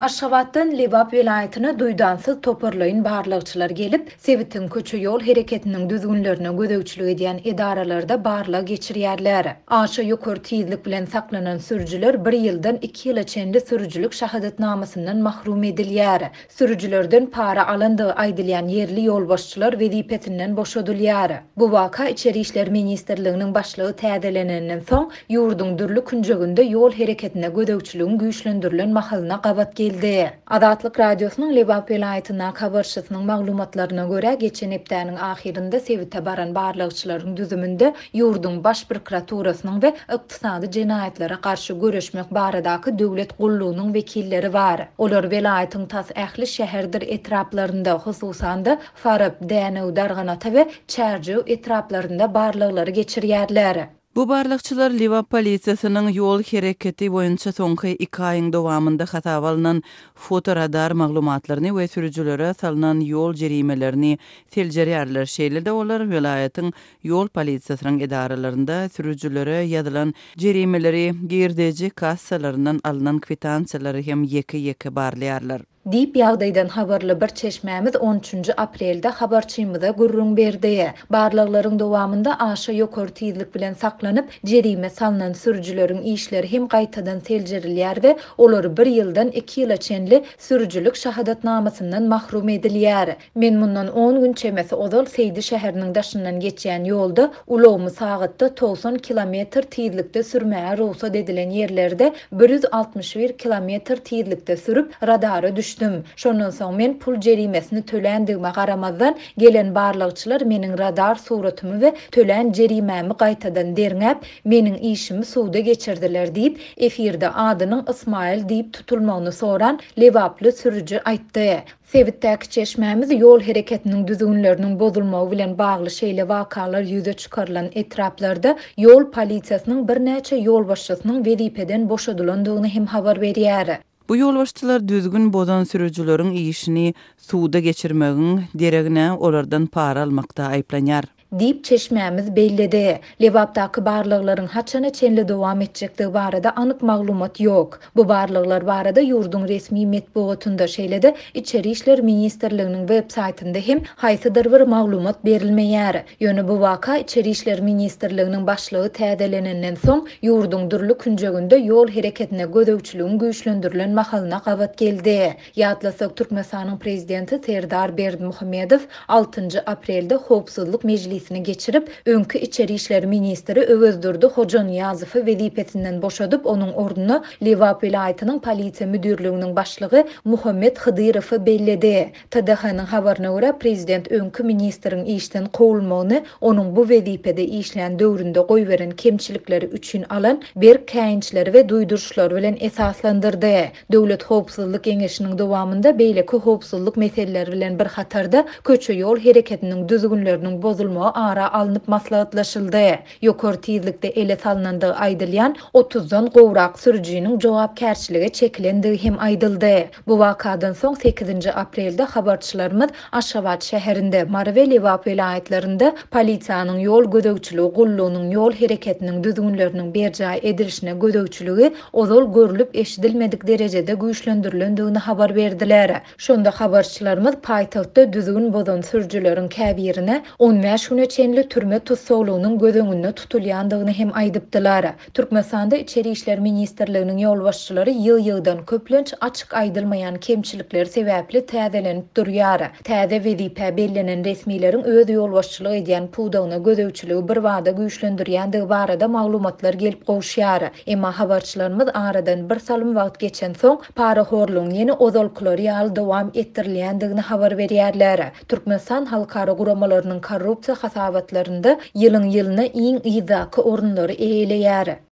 Aşgabatdan Lebap welaýatyna duýdansyz toparlaýyn barlagçylar gelip, sebitiň köçe-ýol hereketiniň düzgünlerine gözegçilik edýän edaralarda barlag geçirýärler. Aşa ýokary tizlik bilen saklanan sürüjiler bir ýyldan iki ýyla çenli sürüjilik şahadatnamasyndan mahrum edilýär. Sürüjilerden para alandygy aýdylýan ýerli ýolbaşçylar wezipesinden boşadylýar. Bu waka Içeri işler ministrliginiň başlygy täzelenenden soň, ýurduň dürli künjeginde ýol hereketine gözegçiligiň güýçlendirilen mahalyna gabat geldi. Azatlyk Radiosynyň Lebap welaýatyndaky habarçysynyň maglumatlaryna görä, geçen hepdäniň ahyrynda sebite baran barlagçylaryň düzüminde Ýurduň Baş prokuraturasynyň we Ykdysady jenaýatlara garşy göreşmek baradaky döwlet gullugynyň wekilleri bar. Olar welaýatyň tas ähli şäherdir etraplarynda, hususan-da, Farap, Dänew, Darganata we Çärjew etraplarynda barlaglary geçirýärler. Bu barlagçylar Lebap polisiýasynyň ýol hereketi boýunça soňky iki aýyň dowamynda hasaba alnan fotoradar maglumatlaryny we sürüjilere salnan ýol jerimelerini seljerýärler. Şeýle-de olar welaýatyň Ýol polisiýasynyň edaralarynda sürüjilere ýazylan jerimeleri, girdeji kassalaryndan alnan kwitansiýalary hem ýeke-ýeke barlaýarlar. Diýip, ýagdaýdan habarly bir çeşmämiz on üçünji aprelde habarçymyza gürrüň berdi. Barlaglaryň dowamynda aşa ýokary tizlik bilen saklanyp, jerime salnan sürüjileriň işleri hem gaýtadan seljerilýär we olar bir ýyldan iki ýyla çenli sürüjilik şahadatnamasyndan mahrum edilýär. Men mundan on gün çemesi ozal Seýdi şäheriniň daşyndan geçýän ýolda ulagymy sagatda togsan kilometr tizlikde sürmäge rugsat edilen ýerlerde bir ýüz altmyş bir kilometr tizlikde sürüp, radara düşdüm. Şondan soň men pul jerimesini töländigime garamazdan, gelen barlagçylar meniň radar suratymy we tölän jerimämi gaýtadan derňäp, meniň işimi suda geçirdiler diýip, efirde adynyň Ysmaýyl diýip tutulmagyny soran lebaply sürüji aýtdy. Sebitdäki çeşmämiz ýol hereketiniň düzgünleriniň bozulmagy bilen bagly şeýle wakalar ýüze çykarylan etraplarda ýol polisiýasynyň birnäçe ýolbaşçysynyň wezipeden boşadylandygyny hem habar berýär. Bu ýolbaşçylar düzgün bozan sürüjileriň işini suda geçirmegiň deregine, olardan para almakda aýyplanýar. diýip, çeşmämiz belledi. Lebapdaky barlaglaryň haçana çenli dowam etjekdigi barada anyk maglumat ýok. Bu barlaglar barada ýurduň resmi metbugatynda, şeýle-de Içeri işler ministrliginiň websaýtynda hem haýsydyr bir maglumat berilmeýär. Ýöne bu waka Içeri işler ministrliginiň başlygy täzelenenden soň, ýurduň dürli künjeginde ýol hereketine gözegçiligiň güýçlendirilen mahalyna gabat geldi. Ýatlasak, Türkmenistanyň Prezidenti Serdar Berdimuhamedow altynjy aprelde Howpsuzlyk mejlisini geçirip, öňki içeri işler ministri Öwezdurdy Hojanyýazowy wezipesinden boşadyp, onuň ornuna Lebap welaýatynyň Polisiýa müdirliginiň başlygy Muhammet Hydyrowy belledi. TDH-nyň habaryna görä, prezident öňki ministriň işden kowulmagyny onuň bu wezipede işlän döwründe goýberen kemçilikleri üçin alan berk käýinçleri we duýduryşlary bilen esaslandyrdy. Döwlet howpsuzlyk geňeşiniň dowamynda beýleki howpsuzlyk meseleleri bilen bir hatarda köçe-ýol hereketiniň düzgünleriniň bozulmagy ara alnyp maslahatlaşyldy. Ýokary tizlikde ele salnandygy aýdylýan otuz dan gowrak sürüjiniň jogapkärçilige çekilendigi hem aýdyldy. Bu wakadan soň sekizinji aprelde habarçylarymyz Aşgabat şäherinde, Mary we Lebap welaýatlarynda polisiýanyň ýol gözegçiligi gullugynyň ýol hereketiniň düzgünleriniň berjaý edilişine gözegçiligi ozal görlüp-eşidilmedik derejede güýçlendirilendigini habar berdiler. Şonda habarçylarymyz paýtagtda düzgün bozan sürüjileriň käbirine on bäş güne çenli türme tussaglygynyň göz öňünde tutulýandygyny hem aýdypdylar. Türkmenistanda Içeri işler ministrliginiň ýolbaşçylary ýygy-ýygydan, köplenç açyk aýdylmaýan kemçilikler sebäpli täzelenip durýar. Täze wezipä bellenen resmileriň öz ýolbaşçylyk edýän pudagyna gözegçiligi birbada güýçlendirýändigi barada maglumatlar gelip gowuşýar. Emma habarçylarymyz aradan birsalym wagt geçensoň, parahorlugyň ýene ozalkylary ýaly dowam etdirilýändigini habar berýärler. Türkmenistan halkara guramalarynyň korrupsiýa hasabatlarynda ýylyň-ýylyna iň yzdaky orunlary eýeleýär.